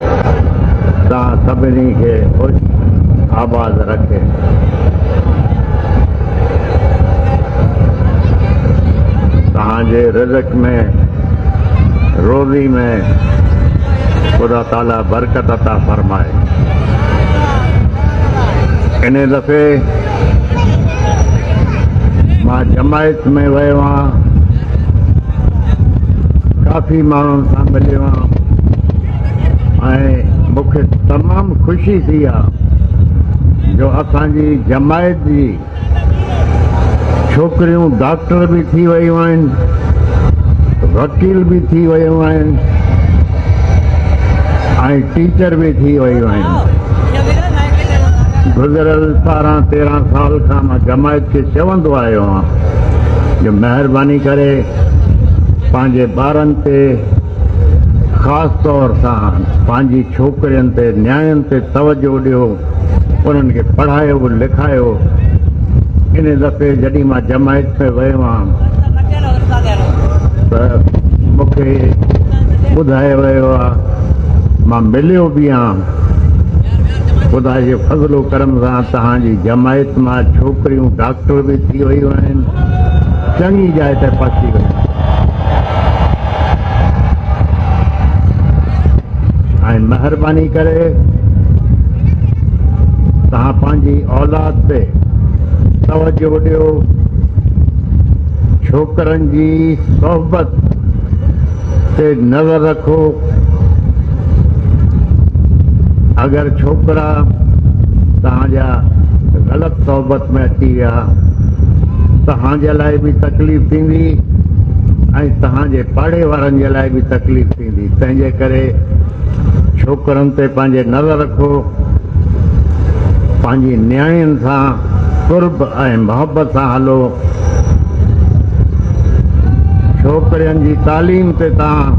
توهان سڀني کي خوش آباد رکيتوهان جي رزق ۾ روزي ۾ خدا تعالي برڪت عطا فرمائي انهي دفعي مان جماعت ۾ ويو آهيان ڪافي ماڻهن سان مليو آهيان ۽ مون کي تمام خوشي ٿي آهي جو اسانجي جماعت جي ڇوڪريون ڊاڪٽر به ٿي ويون آهن وڪيل به ٿي ويون آهن ۽ ٽيچر به ٿي ويون آهن گذريل ٻارهن تيرهن سال کان مان جماعت کي چوندو آيو آهيان جو مهرباني ڪري پنهنجي ٻارن تي خاص طور سان پنهنجي ڇوڪرين تي نياڻين تي توجه ڏيو انهن کي پڙهايو لکايو ان دفعي جڏهن مان جماعت ۾ ويو آهيان ته مون کي ٻڌايو ويو آهي مان مليو به آهن. خدا جي فضل و ڪرم سان توهان جي جماعت مان ڇوڪريون ڊاڪٽر به ٿي ويون آهن. چڱي جاء تي پهچي ويون ۽ مهرباني ڪري توهان پنهنجي اولاد تي توجه ڏيو. ڇوڪرن جي صحبت تي نظر رکو اگر ڇوڪرا توهان جا غلط صحبت ۾ اچي ويا توهان جي لاء به تڪليف ٿيندي ۽ توهان جي پاڙي وارن جي لاء به تڪليف ٿيندي تنهنجي ڪري ڇوڪرن تي پنهنجي نظر رکو پنهنجي نياڻين سان قرب ۽ محبت سان هلو ڇوڪرين جي تعليم تي تاڻ